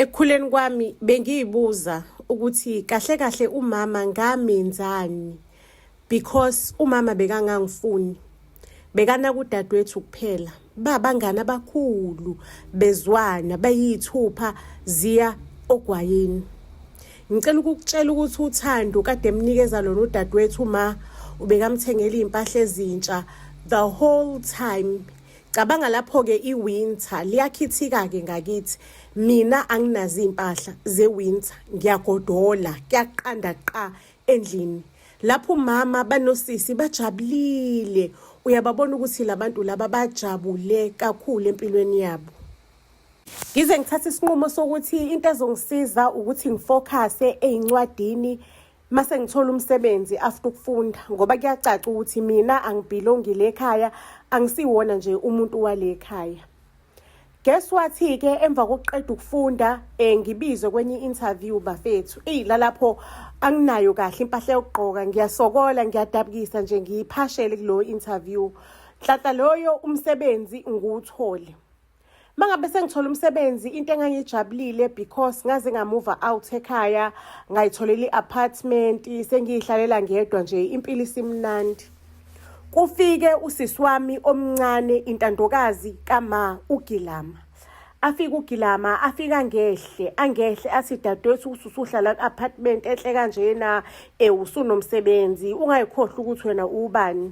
ekukhuleni kwami bengiyibuza ukuthi kahle kahle umama ngamenzani because umama bekangangifuni bekana kudadewethu kuphela babangani abakhulu bezwana bayithupha ziya ogwayini ngicela ukukutshela ukuthi uthando kade emnikeza lona udadewethu ma ubekamthengela izimpahla ezintsha the whole time Cabanga lapho-ke i-winter liyakhithika-ke ngakithi mina anginazi iy'mpahla ze-winter ngiyagodola kuyaqanda qa endlini lapho umama banosisi bajabulile uyababona ukuthi labantu laba bajabule kakhulu empilweni yabo ngize ngithathe isinqumo sokuthi into ezongisiza ukuthi ngifokhase ey'ncwadini mase ngithola umsebenzi after ukufunda ngoba kuyacaca ukuthi mina angibhilongile ekhaya angisiwona nje umuntu wale ekhaya guess wathi ke emva kokuqeda ukufunda eh ngibizwe kwenye interview bafethu ey lalapho anginayo kahle impahla yokugqoka ngiyasokola ngiyadabukisa nje ngiyiphashele kulo interview hlahla loyo umsebenzi ngiwuthole mangabe sengithola umsebenzi into engangijabulile because ngaze ngamuva out ekhaya ngayitholela i-apartment sengiyihlalela ngedwa nje impilo isimnandi kufike usisi wami omncane intandokazi kama ugilama afika ugilama afika ngehle angehle athi dadewethu ukuthi usuhlala ku-apartment enhle kanjena um usunomsebenzi ungayikhohlwa ukuthi wena ubani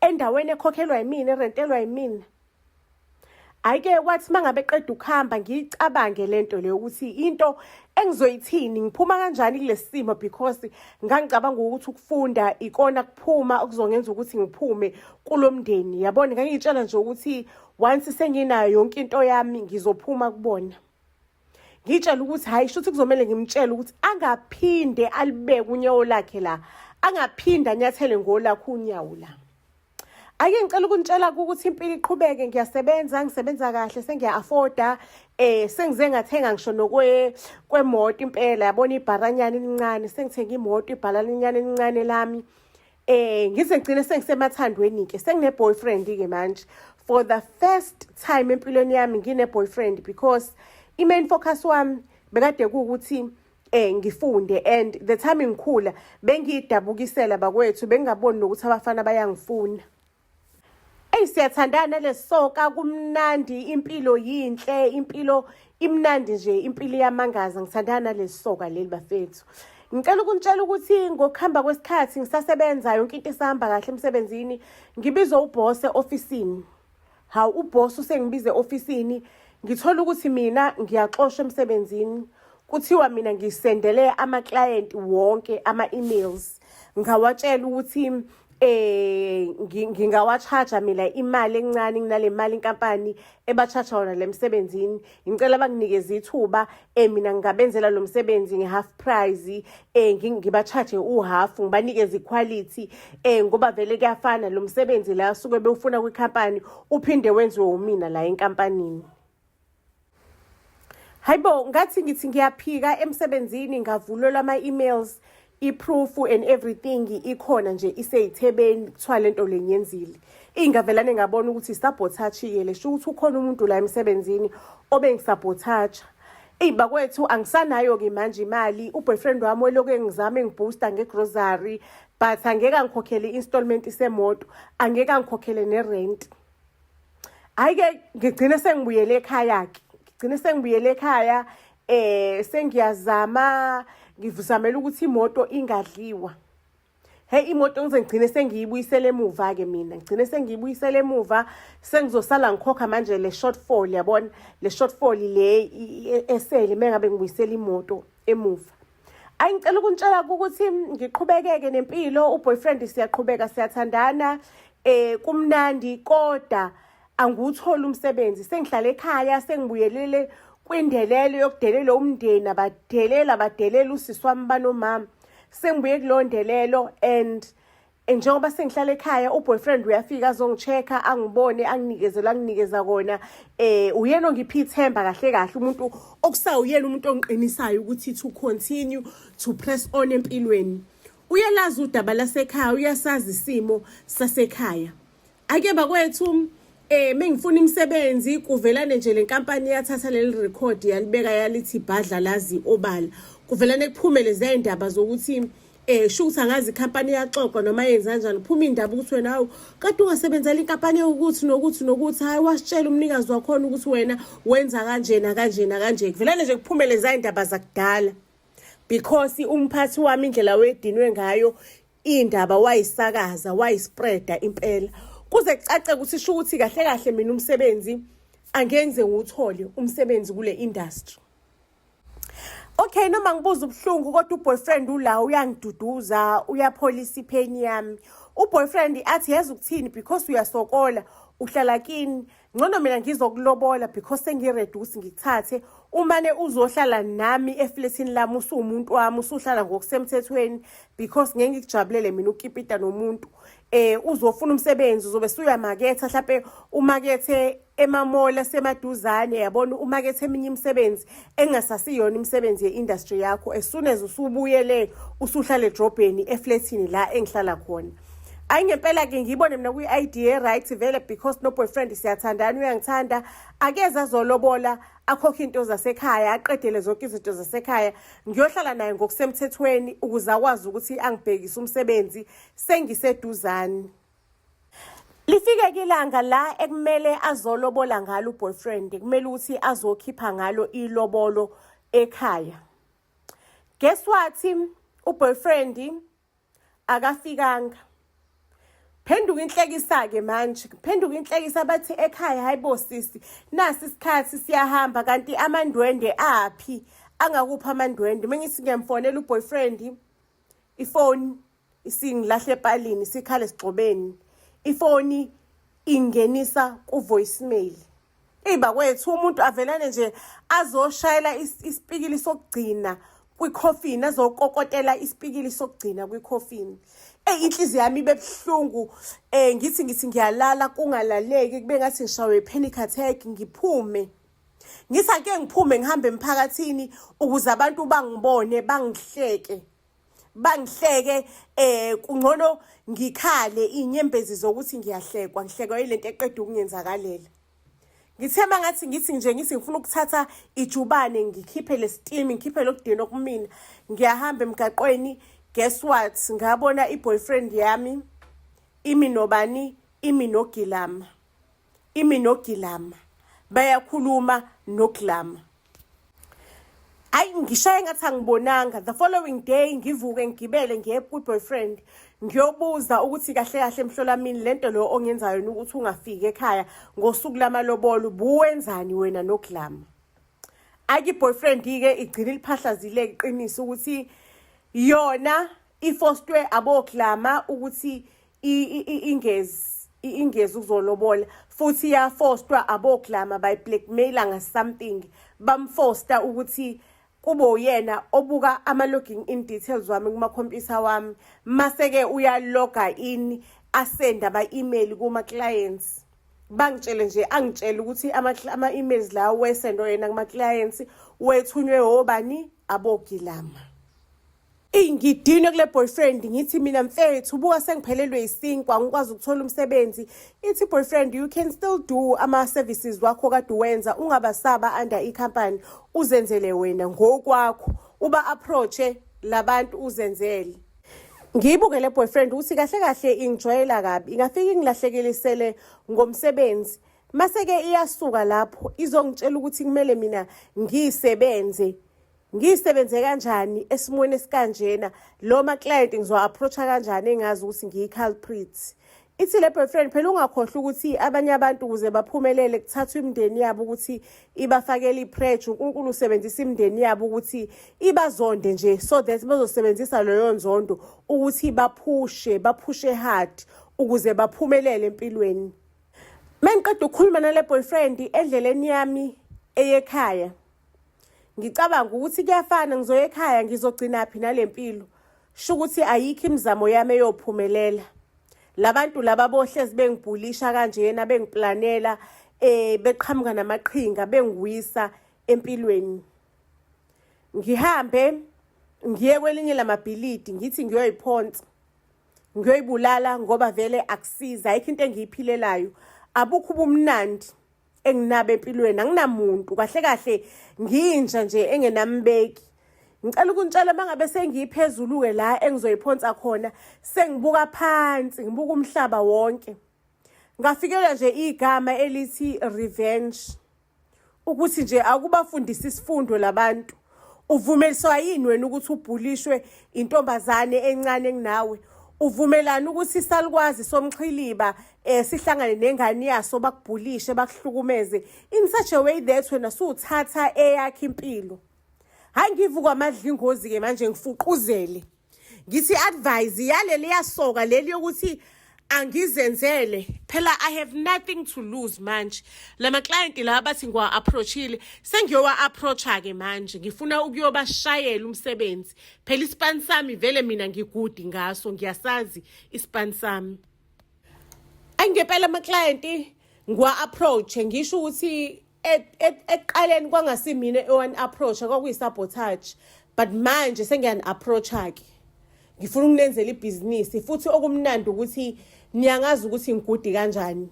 endaweni ekhokhelwa yimina erentelwa yimina ayike kwathi mangabe qeda ukuhamba ngiyicabange lento leyo ukuthi into engizoyithini ngiphuma kanjani kulesimo because ngangicabanga ukuthi ukufunda ikona kuphuma okuzongenza ukuthi ngiphume kulomndeni yabona ngangiyitshela nje ukuthi once senginayo yonke into yami ngizophuma kubona ngitshela ukuthi hhayi shuthi kuzomele ngimtshele ukuthi angaphinde alibeke unyawo lakhe la angaphinde anyathele ngolakho unyawo la ake ngicela ukunitshela ukuthi impilo iqhubeke ngiyasebenza ngisebenza kahle sengiya-afforda eh sengize ngathenga ngisho nokwe kwemoto impela yabona ibharanyana elincane sengithenga imoto ibhalalinyana elincane lami Eh ngize ngigcine sengisemathandweni ke sengine boyfriend ke manje for the first time empilweni yami ngine boyfriend because i main focus wami bekade ukuthi eh ngifunde and the time ngikhula bengidabukisela bakwethu bengingaboni nokuthi abafana bayangifuna Eyi siyathandana lesoka kumnandi impilo yinhle impilo imnandi nje impilo iyamangaza ngithandana lesoka leli bafethu ngicela ukunitshela ukuthi ngokuhamba kwesikhathi ngisasebenza yonke into isahamba kahle emsebenzini ngibizwe ubhose ofisini hawu ubhose usengibize ofisini ngithola ukuthi mina ngiyaxoshwa emsebenzini kuthiwa mina ngisendele ama-client wonke ama-emails ngawatshela ukuthi eh ngingawachaja mina imali encane nginale mali inkampani ebachaja wona lemsebenzini ngicela banginikeze ithuba eh mina ngingabenzela lo msebenzi nge half price eh ngibachaje u half ngibanikeze iquality eh ngoba vele kuyafana lo msebenzi la suke bewufuna kwi company uphinde wenziwe umina la enkampanini hayibo ngathi ngithi ngiyaphika emsebenzini ngavulelwa ama-emails i-proof and everything ikhona nje iseyithebeni kuthiwa le nto le ngiyenzile ingavelane ngabona ukuthi sabotage-ke le sho ukuthi ukhona umuntu la emsebenzini obengisabotage-a eyi bakwethu angisanayo-ke manje imali uboyfriend wami weloku engizama engiboosta ngegrocery but angeke angikhokhele i-installment semoto angeke angikhokhele nerenti hayi ke ngigcine sengibuyele ekhaya ke ngigcine sengibuyele ekhaya eh sengiyazama ngivuzamela ukuthi imoto ingadliwa he imoto ngize ngigcine sengiyibuyisele emuva ke mina ngigcine sengiyibuyisele emuva sengizosala ngikhokha manje le shortfall yabona le shortfall le e, esele mengabe ngibuyisela imoto emuva ayi ngicela ukuntshela ukuthi ngiqhubekeke nempilo uboyfriend siyaqhubeka siyathandana eh kumnandi kodwa angiwutholi umsebenzi sengihlala ekhaya sengibuyelele kwindelelo yokudelela umndeni abadelela badelela usisi wami banomama sengibuye kuleyo ndelelo and Eh, njengoba sengihlala ekhaya uboyfriend uyafika azongichecka angibone anginikezela anginikeza kona eh uyena ongiphi ithemba kahle kahle umuntu okusawuyena umuntu ongiqinisayo ukuthi to continue to press on empilweni uyalazi udaba lasekhaya uyasazi isimo sasekhaya ake bakwethu eh mengifuna imisebenzi kuvelane nje lenkampani yathatha leli record yalibeka yalithi bhadla lazi obala kuvelane kuphumele zayindaba zokuthi eh sho ukuthi angazi ikhampani yaxoxwa noma yenza kanjani kuphuma indaba ukuthi wena hawu kade ungasebenzela inkampani ukuthi nokuthi nokuthi hayi wasitshela umnikazi wakhona ukuthi wena wenza kanjena kanjena kanje kuvelane nje kuphumele zayindaba zakudala because umphathi wami indlela wedinwe ngayo Indaba wayisakaza wayispreada impela kuze kucace ukuthi sho ukuthi kahle kahle mina umsebenzi angenze ngiwuthole umsebenzi kule industry. Okay noma ngibuza ubuhlungu kodwa uboyfriend ula uyangiduduza uyapholisa ipheni yami. Uboyfriend athi yazi ukuthini because uyasokola uhlala kini ngcono mina ngizokulobola because sengiready ukuthi ngikuthathe umane uzohlala nami efletini lami usuwumuntu wami usuhlala ngokusemthethweni because ngeke ngikujabulele mina ukipita nomuntu eh uzofuna umsebenzi uzobe suyamaketha mhlawumbe umakethe emamola semaduzane yabona umakethe eminye imisebenzi engasasiyona imisebenzi ye-industry yakho as soon as usubuyele usuhlale edrobheni efletini la engihlala khona hayi ngempela ke ngiyibone mina kwi-id e-right vele because no-boyfriend siyathandana uyangithanda akeze azolobola akhokhe into zasekhaya aqedele zonke izinto zasekhaya ngiyohlala naye ngokusemthethweni ukuze akwazi ukuthi angibhekise umsebenzi sengiseduzane lifike kilanga la ekumele azolobola ngalo uboyfriend kumele ukuthi azokhipha ngalo ilobolo ekhaya guess what uboyfriend akafikanga phenduka inhlekisa-ke manje phenduka inhlekisa bathi ekhaya hayi bo sisi nasi isikhathi siyahamba kanti amandwende aphi angakuphi amandwende uma ngithi ngiyamfonela uboyfriend ifoni isingilahle epalini sikhale esigxobeni ifoni ingenisa ku-voicemail eyi bakwethu umuntu avelane nje azoshayela isipikili sokugcina kwikhofini azokokotela isipikili sokugcina kwikhofini eyi inhliziyo yami ibe buhlungu um eh, ngithi ngithi ngiyalala kungalaleki kube ngathi ngishawe i-panic attack ngiphume ngithi ake ngiphume ngihambe emphakathini ukuze abantu bangibone bangihleke bangihleke eh kungcono ngikhale inyembezi zokuthi ngiyahlekwa ngihlekwa ilento eqeda ukungenzakalela ngithe mangathi ngithi nje ngithi ngifuna ukuthatha ijubane ngikhiphe lesitimi ngikhiphe lokudina okumina ngiyahamba emgaqweni guess what ngabona iboyfriend yami imi nobani imi nogilama imi nogilama bayakhuluma nogilama hayi ngishaye ngathi angibonanga the following day ngivuke ngigibele ngiye ku-boyfriend ngiyobuza ukuthi kahle kahle mhlolamini le nto leyo ongenzayo ukuthi ungafiki ekhaya ngosuku lamalobolo buwenzani wena nogilama ake i-boyfriend-ke igcine iliphahlazile iqiniso ukuthi yona ifostwe abogilama ukuthi ingezi ingezi ukuzolobola futhi iyafostwa aboglama by blackmailer nga something bamfosta ukuthi kube uyena obuka ama logging in details wami kuma computer wami mase ke uyaloga in asenda ba email kuma clients bangitshele nje angitshele ukuthi ama emails la wesendo yena kuma clients wethunywe obani abogilama Eyi ngidinwe kule boyfriend ngithi mina mfethu buka sengiphelelwe yisinkwa ngikwazi ukuthola umsebenzi ithi boyfriend you can still do ama-services wakho kade uwenza ungabasaba under i-company uzenzele wena ngokwakho uba approache labantu uzenzele ngiyibuke le boyfriend ukuthi kahle kahle ingijwayela kabi ingafike ingilahlekelisele ngomsebenzi mase-ke iyasuka lapho izongitshela ukuthi kumele mina ngiyisebenze ngiyisebenze kanjani esimweni esikanjena lo ma-client ngizowa-approach-a kanjani engazi ukuthi ngiyi-culprit ithi le boyfriend phela ungakhohlwa ukuthi abanye abantu ukuze baphumelele kuthathwa imindeni yabo ukuthi ibafakele ipreje unkulunkulu usebenzisa imindeni yabo ukuthi ibazonde nje so that bazosebenzisa leyo nzondo ukuthi baphushe baphushe hard ukuze baphumelele empilweni mengiqeda ukukhuluma nale boyfriend endleleni yami eyekhaya ngicabanga ukuthi kuyafana ngizoya ekhaya ngizogcinaphi nale mpilo sho ukuthi ayikho imizamo yami eyophumelela labantu laba bohlezi bengibhulisha kanjena bengiplanela eh beqhamuka namaqhinga bengiwisa empilweni ngihambe ngiye kwelinye lamabhilidi ngithi ngiyoyiphonsa ngiyoyibulala ngoba vele akusiza ayikho into engiyiphilelayo abukho ubumnandi enginabo empilweni anginamuntu kahle kahle nginja nje engenambeki ngicela ukuntshela mangabe sengiyiphezulu-ke la engizoyiphonsa khona sengibuka phansi ngibuka umhlaba wonke ngafikelwa nje igama elithi revenge ukuthi nje akubafundisa isifundo labantu uvumeliswa yini wena ukuthi ubhulishwe intombazane encane kunawe uvumelana ukuthi isalukwazi somxhiliba eh sihlangane nengane yaso bakubhulishe bakuhlukumeze in such a way that wena suwuthatha eyakhe impilo hayi ngivuka amadla ingozi ke manje ngifuquzele ngithi advise yaleli yasoka leli yokuthi angizenzele phela i have nothing to lose manje lama client la bathi ngiwa approachile sengiyowa approacha ke manje ngifuna ukuyobashayela umsebenzi phela ispan sami vele mina ngigudi ngaso ngiyasazi ispan sami angempela ama client ngiwa approach ngisho ukuthi ekuqaleni kwangasimina ewani approach kwakuyi sabotage but manje sengiyani approach ke ngifuna ukunenzela ibhizinisi futhi okumnandi ukuthi niyangazi ukuthi ngigudi kanjani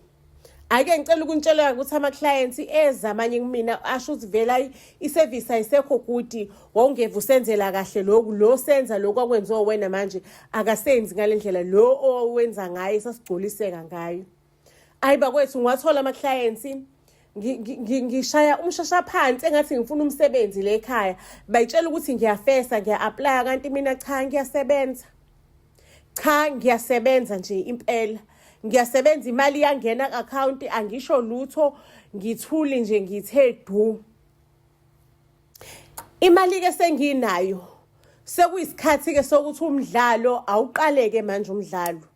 ake ngicela ukuntshela ukuthi ama clients eza amanye kumina asho ukuthi vela iservice ayisekho gudi wawungeva usenzela kahle lokhu lo senza lokhu akwenziwa wena manje akasenzi ngalendlela lo owenza ngaye sasigculiseka ngayo ayi bakwethu ngiwathola ama-clients ngishaya umshasha phansi engathi ngifuna umsebenzi le ekhaya bayitshela ukuthi ngiyafesa ngiya-aplaya kanti mina cha ngiyasebenza cha ngiyasebenza nje impela ngiyasebenza imali yangena ku-akhawunti angisho lutho ngithuli nje ngithe du imali-ke senginayo sekuyisikhathi-ke sokuthi umdlalo awuqaleke manje umdlalo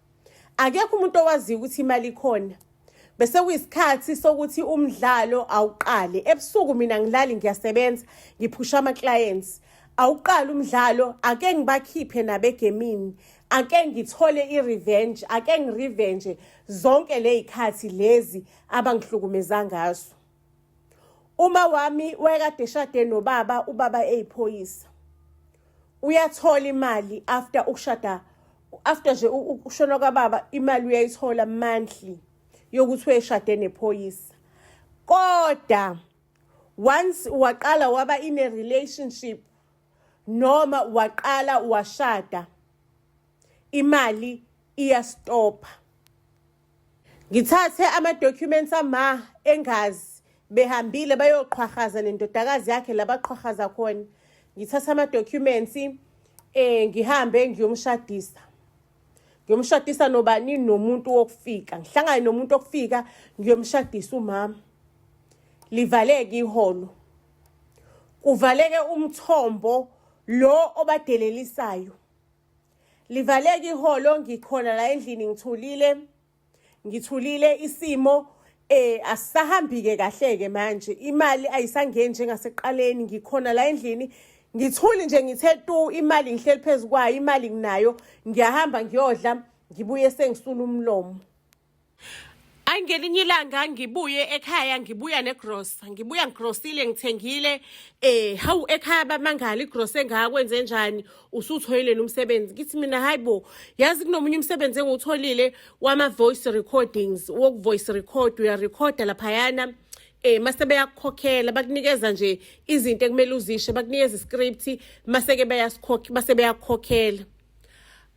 akekho umuntu owaziyo ukuthi imali ikhona bese kuyisikhathi sokuthi umdlalo awuqale ebusuku mina ngilali ngiyasebenza ngiphusha ama-clients awuqala umdlalo ake ngibakhiphe nabegemini ake ngithole i-revenge ake ngirevenge zonke ley'khathi lezi abangihlukumeza ngazo Uma wami wayekade eshade nobaba ubaba eyiphoyisa. Uyathola imali after ukushada after nje ukushona kwababa imali uyayithola monthly yokuthi uyeshade nephoyisa. Kodwa once waqala waba in a relationship noma waqala washada imali iyastopha ngithathe ama-documents ama engazi behambile bayoqhwahaza nendodakazi yakhe labaqhwahaza khona ngithatha ama-documents um eh, ngihambe ngiyomshadisa ngiyomshadisa nobani nomuntu wokufika ngihlangane nomuntu wokufika ngiyomshadisa umama livaleke iholo kuvaleke umthombo lo obadelelisayo livaleke iholo ngikhona la endlini ngithulile ngithulile isimo eh asisahambike kahle ke manje imali ayisangeni njengasekuqaleni ngikhona la endlini ngithuli nje ngithe tu imali ngihleli phezukwayo imali nginayo ngiyahamba ngiyodla ngibuye sengisula umlomo Ay ngelinye ilanga ngibuye ekhaya ngibuya negrosa ngibuya ngigrosile ngithengile eh hawu ekhaya bamangala igrosa engakwe enze njani usuthoyileni umsebenzi ngithi mina hayibo yazi kunomunye umsebenzi engiwutholile wama voice recordings woku voice record uya recorda lapha yana eh mase beyakukhokhela bakunikeza nje izinto ekumele uzishe bakunikeza iscript mase ke beyasikhokhela mase beyakukhokhela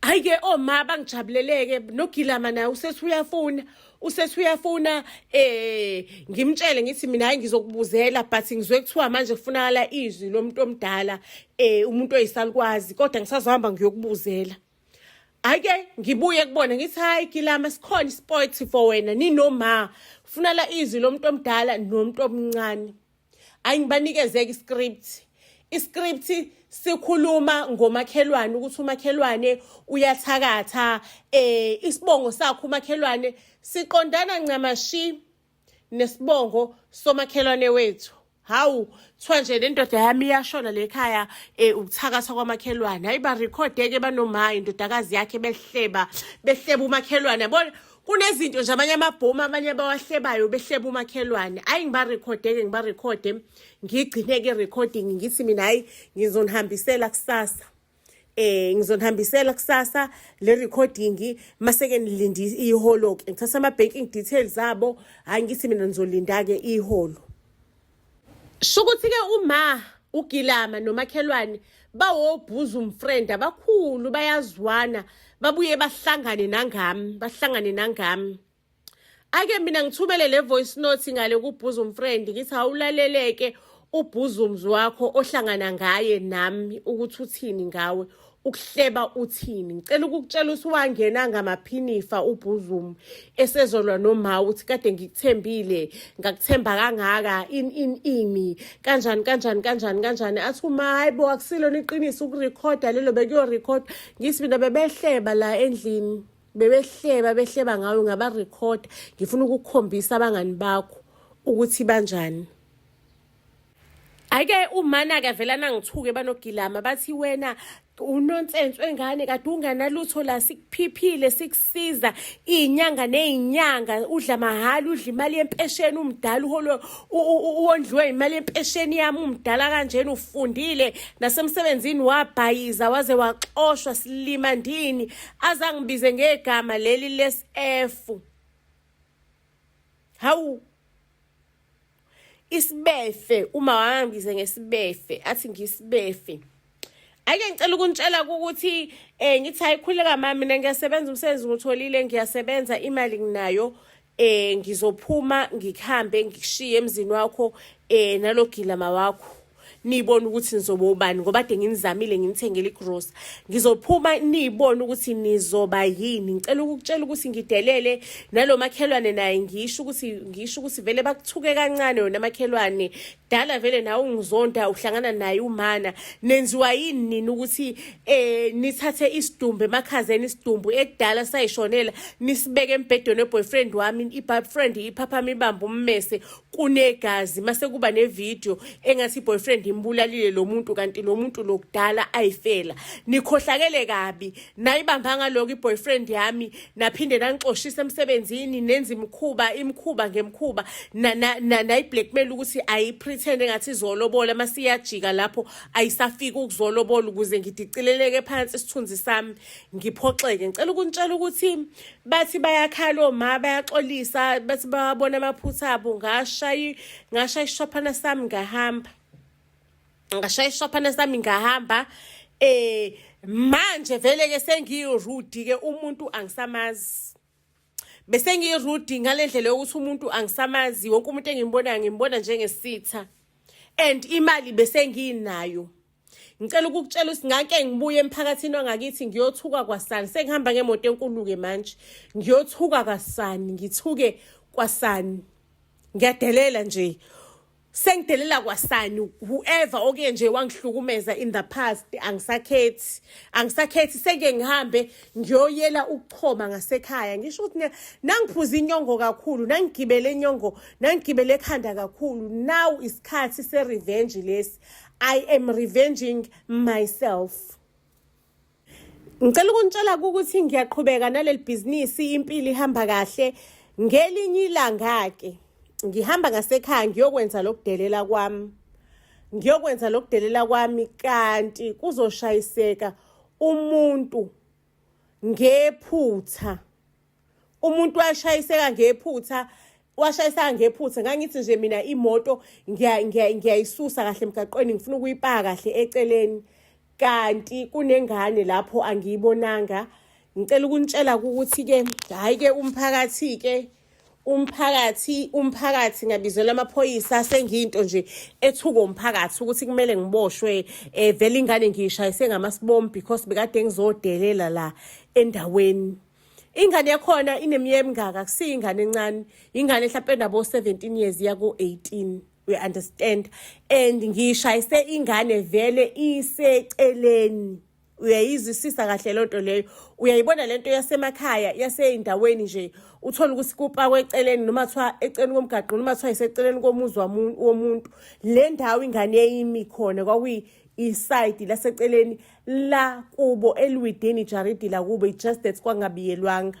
Ayike oma oh, bangijabuleleke nogilama naye usethi uyafuna usethi uyafuna eh ngimtshele ngithi mina hayi ngizokubuzela but ngizwe kuthiwa manje kufunakala izwi lomuntu omdala eh umuntu oyisalukwazi kodwa ngisazohamba ngiyokubuzela Ayike ngibuye kubona ngithi hayi gilama sikhona isport for wena ninoma funa la izwi lomuntu omdala nomuntu omncane ayi ngibanikezeke iscript iscript sikhuluma ngomakhelwane ukuthi umakhelwane uyathakatha eh isibongo sakho umakhelwane siqondana ncamashi nesibongo somakhelwane wethu hawu kuthiwa nje le ndoda yami iyashona le khaya um ukuthakatha kwamakhelwane hayi barekhode-ke banomaya indodakazi yakhe behleba behleba umakhelwane yabona kunezinto nje abanye amabhomu abanye abawahlebayo behleba umakhelwane ayi ngibarekhodeke ngibarekhode ngigcine-ke recording ngithi mina hhayi ngizonihambisela kusasa eh ngizonihambisela kusasa le recording maseke nilindi iholo ke ngithatha ama banking details abo hayi ngithi mina nizolinda ke iholo shukuthi ke uma ugilama nomakhelwane bawobhuza umfriend abakhulu bayazwana babuye bahlangane nangami bahlangane nangami ake mina ngithumele le voice note ngale kubhuza umfriend ngithi awulaleleke ubhuzumzi wakho ohlangana ngaye nami ukuthi uthini ngawe ukuhleba uthini ngicela ukukutshela ukuthi wangena ngamaphinifa ubhuzumu esezolwa noma uthi kade ngikuthembile ngakuthemba kangaka in in ini kanjani kanjani kanjani kanjani athi uma hayi bo akusilona iqiniso ukurekhoda lelo bekuyorekhoda ngisi mina bebehleba la endlini bebehleba behleba ngawe ngabarekhoda ngifuna ukukhombisa abangani bakho ukuthi banjani Ayike umana ke vela nangithuke banogilama bathi wena unonsense wengane kade unganalutho la sikuphiphile sikusiza izinyanga nezinyanga udla mahala udla imali yempesheni umdala uholo uwondliwe imali yempesheni yami umdala kanjena ufundile nasemsebenzini wabhayiza waze waxoshwa silima ndini azangibize ngegama leli lesf hawu isibefe uma wangibize ngesibefe athi ngisibefe ake ngicela ukunitshela ukuthi eh ngithi ayikhuleka mama mina ngiyasebenza umsebenzi ngutholile ngiyasebenza imali nginayo eh ngizophuma ngikhambe ngikushiye emzini wakho eh nalogila mawakho niyibone ukuthi nizoba ubani ngoba de nginizamile nginithengele igrosa ngizophuma niyibone ukuthi nizoba yini ngicela ukukutshela ukuthi ngidelele nalo makhelwane naye ngisho ukuthi ngisho ukuthi vele bakuthuke kancane yona makhelwane dala vele nawe ungizonda uhlangana naye umana nenziwa yini nina ukuthi eh nithathe isidumbu emakhazeni isidumbu ekudala sayishonela nisibeke embhedweni weboyfriend wami ibabfriend iphaphama ibamba ummese kunegazi mase kuba nevideo engathi boyfriend imbulalile lo muntu kanti lo muntu lokudala ayifela nikhohlakele kabi nayibamba ngaloko iboyfriend yami naphinde nangixoshisa emsebenzini nenza imikhuba imikhuba ngemkhuba nayiblackmail ukuthi ayipretend engathi izolobola masiyajika lapho ayisafiki ukuzolobola ukuze ngidicileleke phansi isithunzi sami ngiphoxeke ngicela ukuntshela ukuthi bathi bayakhala oma bayaxolisa bathi bawabona amaphutha abo ngashayi ngashaya ishophana sami ngahamba ngashaya ishophana sami ngahamba eh manje vele ke sengiyirude ke umuntu angisamazi bese ngiyirude ngalendlela yokuthi umuntu angisamazi wonke umuntu engimbonayo ngimbona njengesitha and imali bese nginayo ngicela ukukutshela ukuthi ngake ngibuye emphakathini wangakithi ngiyothuka kwasani sengihamba ngemoto enkulu-ke manje ngiyothuka kwasani ngithuke kwasani ngiyadelela nje sengidelela kwasani whoever oke nje wangihlukumeza in the past angisakhethi angisakhethi seke ngihambe ngiyoyela ukuchoma ngasekhaya ngisho ukuthi nangiphuza inyongo kakhulu nangigibele inyongo nangigibele ekhanda kakhulu now isikhathi se-revenge lesi I am revenging myself. Ngicela ukunitshela ukuthi ngiyaqhubeka naleli bhizinisi impilo ihamba kahle ngelinye ilanga ke ngihamba ngasekhaya ngiyokwenza lokudelela kwami ngiyokwenza lokudelela kwami kanti kuzoshayiseka umuntu ngephutha umuntu washayiseka ngephutha washayiseka ngephutha ngangithi nje mina imoto ngiyayisusa kahle emgaqweni ngifuna ukuyipaka kahle eceleni kanti kunengane lapho angiyibonanga ngicela ukunitshela ukuthi-ke hhayi-ke umphakathi-ke umphakathi umphakathi ngabizela amaphoyisa sengiyinto nje ethuko umphakathi ukuthi kumele ngiboshwe eh vele ingane ngiyishayise ngamasibombi because bekade ngizodelela la endaweni ingane yakhona ineminyaka emingaka kusiyo ingane encane ingane mhlawumpe enabo-17 years iya ku-18 we understand and ngishayise ingane vele iseceleni uyayizwisisa kahle loo nto leyo uyayibona le nto yasemakhaya yaseyindaweni nje uthole ukuthi kupakwe eceleni noma kuthiwa eceleni komgaqo noma kuthiwa iseceleni komuzi womuntu le ndawo ingane yayimi khona kwakuyi isayidi laseceleni la kubo elwidini ijaridi lakubo i-just that kwangabiyelwanga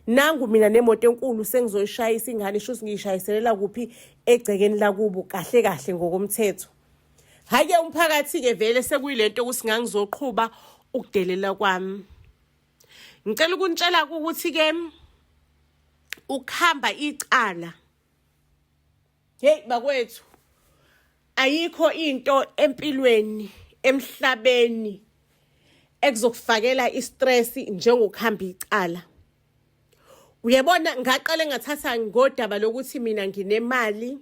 nangu mina nemoto enkulu sengizoyishayisa ingane isho ukuthi ngiyishayiselela kuphi egcekeni lakubo kahle kahle ngokomthetho hhayi-ke umphakathi-ke vele sekuyilento ukuthi ngangizoqhuba ukudelela kwami ngicela ukunitshela ukuthi-ke ukuhamba icala Hey bakwethu ayikho into empilweni emhlabeni ekuzokufakela istress njengokuhamba icala uyabona ngaqale ngathatha ngodaba lokuthi mina nginemali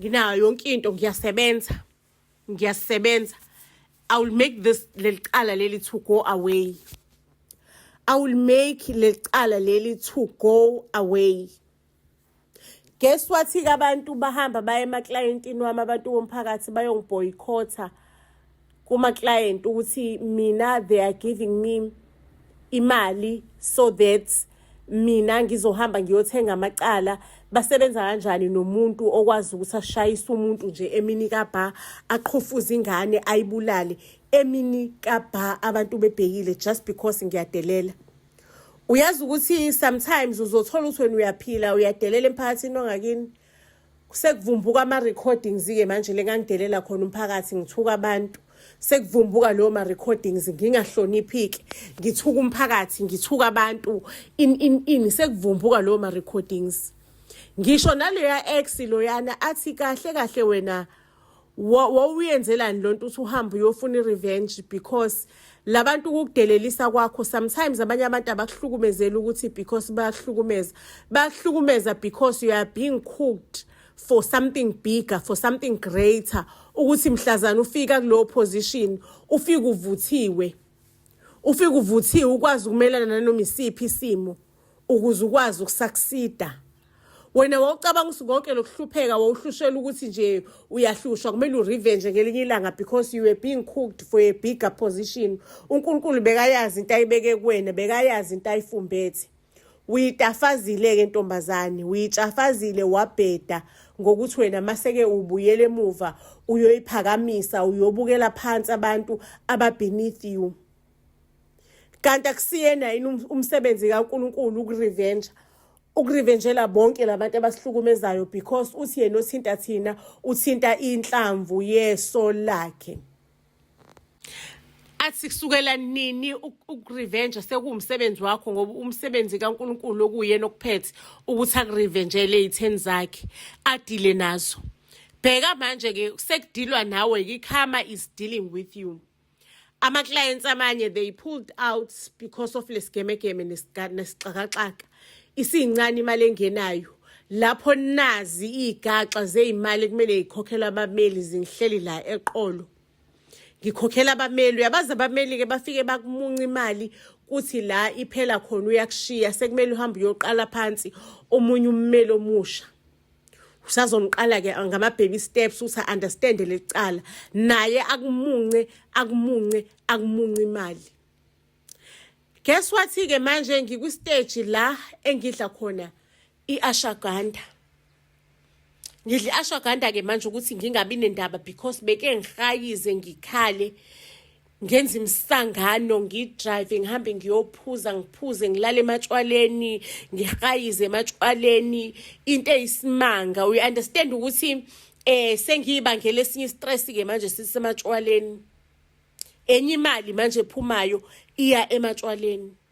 nginayo yonke into ngiyasebenza ngiyasebenza i will make this lelicala leli to go away i will make lelicala leli to go away guess wathi-ke abantu bahamba baye emaklayentini wami abantu bomphakathi bayongibhoyikhotha kumaklayenti ukuthi mina they are giving me imali so that mina ngizohamba ngiyothenga amacala basebenza kanjani nomuntu okwazi ukuthi ashayise umuntu nje emini kabha aqhofuze ingane ayibulale emini kabha abantu bebhekile just because ngiyadelela uyazi ukuthi sometimes uzothola ukuthi wena uyaphila uyadelela emphakathini ongakini sekuvumbuka ama-recordings-ke manje le ngangidelela khona umphakathi ngithuka abantu sekuvumbuka leyo ma-recordings ngingahloniphiki ngithuka umphakathi ngithuka abantu in in in sekuvumbuka leyo ma-recordings ngisho naleya ex loyana athi kahle kahle wena wawuyenzelani lo nto uthi uhambe uyofuna i-revenge because labantu ukukudelelisa kwakho sometimes abanye abantu abakuhlukumezeli ukuthi because bayakuhlukumeza bayakuhlukumeza because you are being cooked for something bigger for something greater ukuthi mhlazana ufika kulowo position ufike uvuthiwe ufike uvuthiwe ukwazi ukumelana nanoma isiphi isimo ukuze ukwazi ukusaksida wena wawucabanga ukuthi konke lokuhlupheka wawuhlushela ukuthi nje uyahlushwa kumele urevenge ngelinye ilanga because you were being cooked for a bigger position unkulunkulu bekayazi into ayibeke kuwena bekayazi into ayifumbethe uyitafazile-ke ntombazane uyitshafazile wabheda ngokuthi wena maseke ubuyele emuva uyoyiphakamisa uyobukela phansi abantu ababeneath you kanti akusiyena yini um-, umsebenzi kaNkulunkulu ukurevenge ukurevenjela bonke labantu abasihlukumezayo because uthi yena othinta thina uthinta inhlamvu yeso lakhe athi kusukela nini ukurevenge sekuwumsebenzi wakho ngoba umsebenzi kaNkuluNkulu okuyena okuphethe ukuthi akurevenjele izitheni zakhe adile nazo bheka manje ke sekudilwa nawe ikhama is dealing with you ama clients amanye they pulled out because of lesigemegeme nesixakaxaka isincane imali engenayo lapho nazi igaxa zeimali kumele ikhokhelwe abameli zinhleli la eqolo ngikhokhela abameli uyabazi abameli ke bafike bakumunca imali kuthi la iphela khona uyakushiya sekumele uhambe uyoqala phansi omunye ummeli omusha usazomqala ke ngama baby steps usa understand lecala naye akumunce akumunce akumunce imali guess what ke manje ngikwi stage la engidla khona iashaganda ngidla iashaganda ke manje ukuthi ngingabi nendaba because beke ngihayize ngikhale ngenza imisangano ngidrive ngihambe ngiyophuza ngiphuze ngilale ematshwaleni ngihayize ematshwaleni into eyisimanga we understand ukuthi eh sengiyibangela esinye istress ke manje sisematshwaleni enye imali manje ephumayo iya ematshwaleni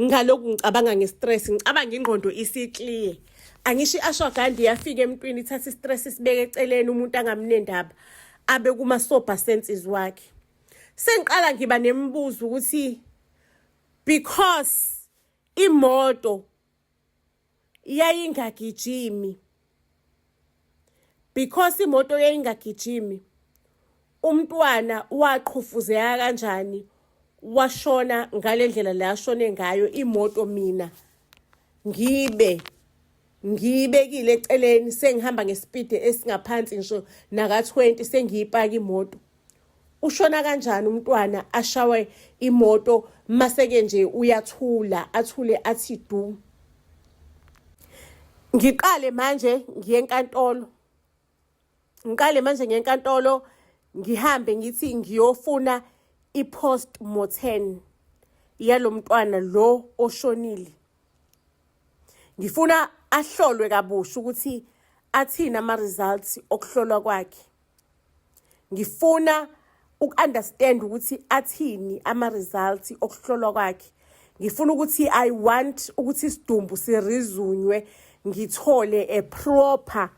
ngaloku ngicabanga ngestress ngicabanga ingqondo isiclear angisho i-ashwagandi yafika emntwini ithatha istress isibeke eceleni umuntu angamnendaba abe kuma-sober senses wakhe sengiqala ngiba nemibuzo ukuthi because imoto yayingagijimi because imoto yayingagijimi umntwana waqhufuzeka kanjani washona ngale ndlela le ashone ngayo imoto mina ngibe ngiyibekile eceleni sengihamba ngesipidi esingaphansi ngisho naka-20 sengiyipaka imoto ushona kanjani umntwana ashawe imoto maseke nje uyathula athule athi du ngiqale manje ngiye enkantolo ngiqale manje ngiye enkantolo ngihambe ngithi ngiyofuna i-post mortem yalo mntwana lo oshonile ngifuna ahlolwe kabusha ukuthi athini ama-results okuhlolwa kwakhe ngifuna uku-understand ukuthi athini ama-results okuhlolwa kwakhe ngifuna ukuthi i want ukuthi isidumbu sirizunywe ngithole a proper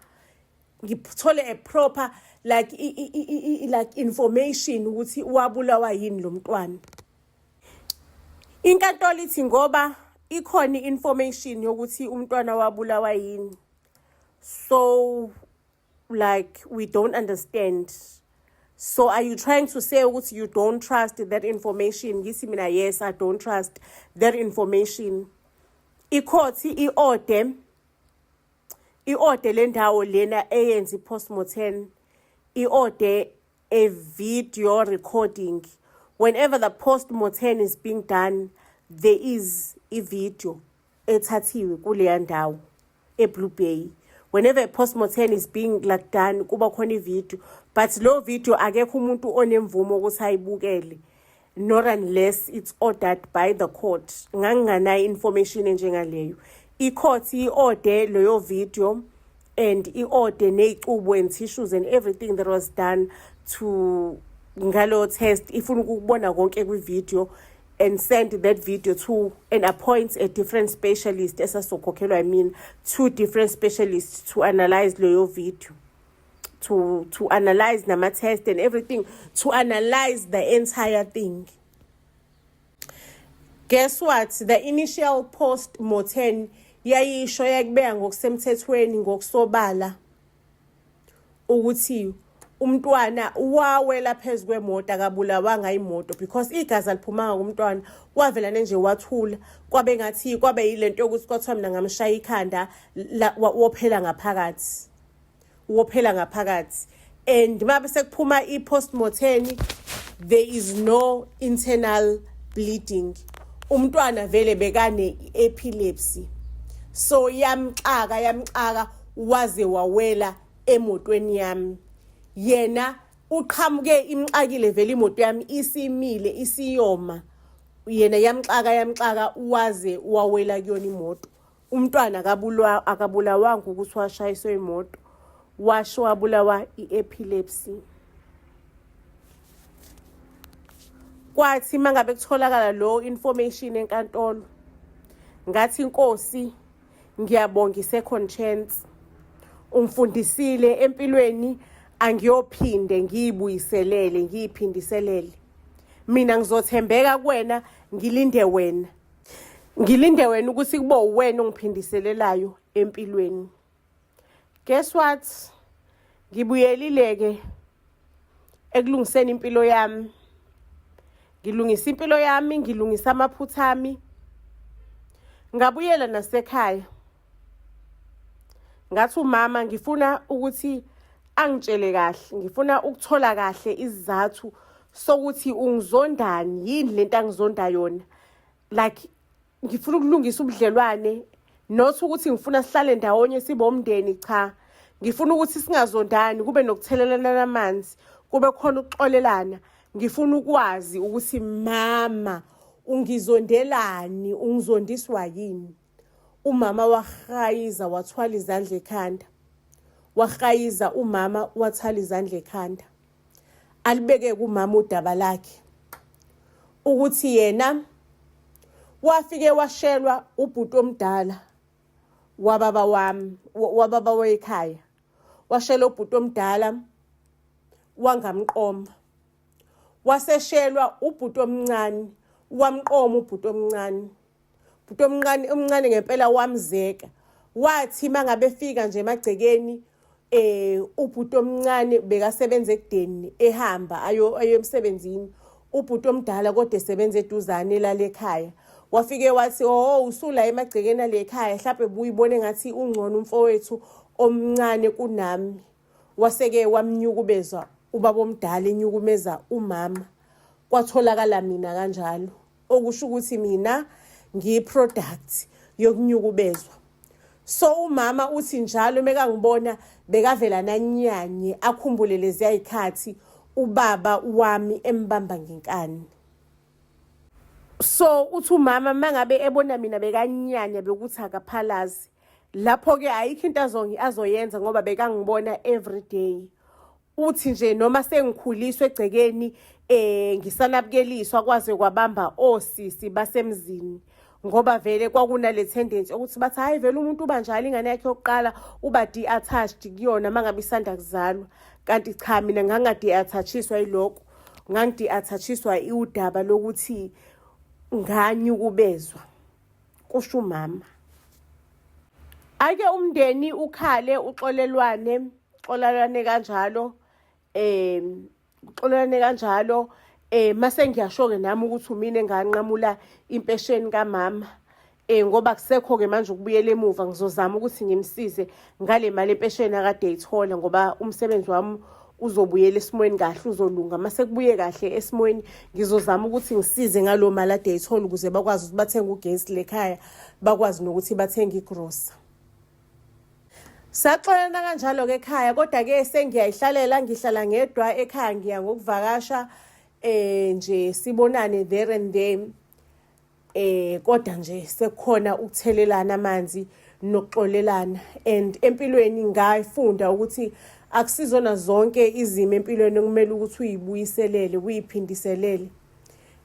ngithole a proper like i, i, i, like information ukuthi wabulawa yini lo mntwana inkantolo ithi ngoba ikhona i-information yokuthi umntwana wabulawa yini so like we don't understand so are you trying to say ukuthi you don't trust that information ngithi mina yes i don't trust that information ikhothi i-ode i-ode le ndawo lena eyenza i-postmortem i-ode a video recording whenever the post mortem is being done there is a video ethathiwe kuleya ndawo eblue bay whenever a post mortem is being like done kuba khona ivideo but lo video akekho umuntu onemvumo ukuthi ayibukele not unless it's ordered by the court nganginganayo information enjengaleyo i-court i-orde leyo video and i-orde ney'cubo and tissues and everything that was done to ngalo test ifuna ukubona konke kwi-video and send that video to and appoint a different specialist esasokhokhelwa yimina two different specialists to analyze leyo video to to analyze nama test and everything to analyze the entire thing guess what the initial post mortem yayisho yakubeka ngokusemthethweni ngokusobala ukuthi umntwana wawela phezu kwemoto akabulawanga imoto because igazi aliphumanga kumntwana wavela nje wathula kwabe ngathi kwabe yilento yokuthi kwathiwa mina ngamshaya ikhanda wophela ngaphakathi wophela ngaphakathi and uma besekuphuma i-postmortem there is no internal bleeding umntwana vele bekane epilepsy so yamxaka yamxaka waze wawela emotweni yami yena uqhamuke imxakile vele imoto yami isimile isiyoma yena yamxaka yamxaka waze wawela kuyona imoto umntwana akabulawa akabulawanga ukuthi washayiswe imoto washo wabulawa i-epilepsy kwathi uma ngabe kutholakala lo information enkantolo ngathi inkosi ngiyabonga i-second chance ungifundisile empilweni angiyophinde ngiyibuyiselele ngiyiphindiselele mina ngizothembeka kuwena ngilinde wena ngilinde wena ukuthi kube uwena ongiphindiselelayo empilweni guess what ngibuyelileke ekulungiseni impilo yami ngilungisa impilo yami ngilungisa amaphutha ami ngabuyela nasekhaya ngathi umama ngifuna ukuthi angitshele kahle ngifuna ukuthola kahle izizathu sokuthi ungizondani yini lento angizonda yona like ngifuna ukulungisa ubudlelwane not ukuthi ngifuna sihlale ndawonye sibomndeni cha ngifuna ukuthi singazondani kube nokuthelelana amanzi kube khona ukuxolelana ngifuna ukwazi ukuthi mama ungizondelani ungizondiswa yini Umama wahayiza wathwala izandla ekhanda. Wahayiza umama wathwala izandla ekhanda. Alibeke kumama udaba lakhe ukuthi yena wafike washelwa ubhuti omdala wababa wami wababa wekhaya washela ubhuti omdala wangamqoma waseshelwa ubhuti omncane wamqoma ubhuti omncane Futhi omncane omncane ngempela wamzeka. Wathi mangabefika nje emagcekeni eh ubhuti omncane bekasebenza ekudeni ehamba ayo ayemsebenzini ubhuti omdala kodwa esebenza eduzane lalekhaya wafike wathi oh usula emagcekeni alekhaya mhlawumbe buyibone ngathi ungcono umfowethu omncane kunami waseke wamnyukubezwa ubaba omdala enyukumeza umama kwatholakala mina kanjalo okusho ukuthi mina ngiyiproduct yokunyukubezwa so umama uthi njalo uma kangibona bekavela nanyanye akhumbule leziya yikhathi ubaba wami embamba ngenkani so uthi umama mangabe ebona mina bekanyanya bekuthi akaphalazi lapho ke ayikho into azongi azoyenza ngoba bekangibona every day uthi nje noma sengikhuliswa egcekeni eh ngisanabukeliswa kwaze kwabamba osisi basemzini ngoba vele kwakunale tendency ukuthi bathi hayi vele umuntu uba njalo ingane yakhe yokuqala uba de-attached kuyona uma ngabe isanda kuzalwa kanti cha mina ngangade-attachiswa yilokho ngangide-attachiswa iwudaba lokuthi nganyukubezwa kusho umama ake umndeni ukhale uxolelwane xolalwane kanjalo um uxolelwane kanjalo um mase ngiyasho-ke nami ukuthi umina enganqamula impesheni kamama um ngoba kusekho-ke manje ukubuyela emuva ngizozama ukuthi ngimsize ngale mali empesheni akade eyithola ngoba umsebenzi wami uzobuyela esimweni kahle uzolunga uma sekubuye kahle esimweni ngizozama ukuthi ngisize ngaloo mali ade eyithola ukuze bakwazi ukuthi bathenge ugesi lekhaya bakwazi nokuthi bathenge igrosa saxolana kanjalo-ke ekhaya kodwa-ke sengiyayihlalela ngihlala ngedwa ekhaya ngiya ngokuvakasha um nje sibonane there and there eh kodwa nje sekukhona ukuthelelana amanzi nokuxolelana and empilweni ngayifunda ukuthi akusizona zonke izimo empilweni okumele ukuthi uyibuyiselele uyiphindiselele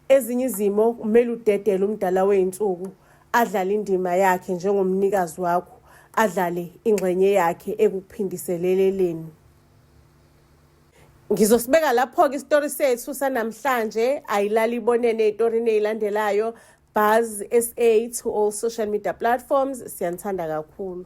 ezinye izimo kumele udedele umdala weyinsuku adlale indima yakhe njengomnikazi wakho adlale ingxenye yakhe ekuphindiseleleleni ngizosibeka lapho-ke isitori sethu sanamhlanje ayilali ibonene eyitorini eyilandelayo buzz sa to all social media platforms siyanithanda kakhulu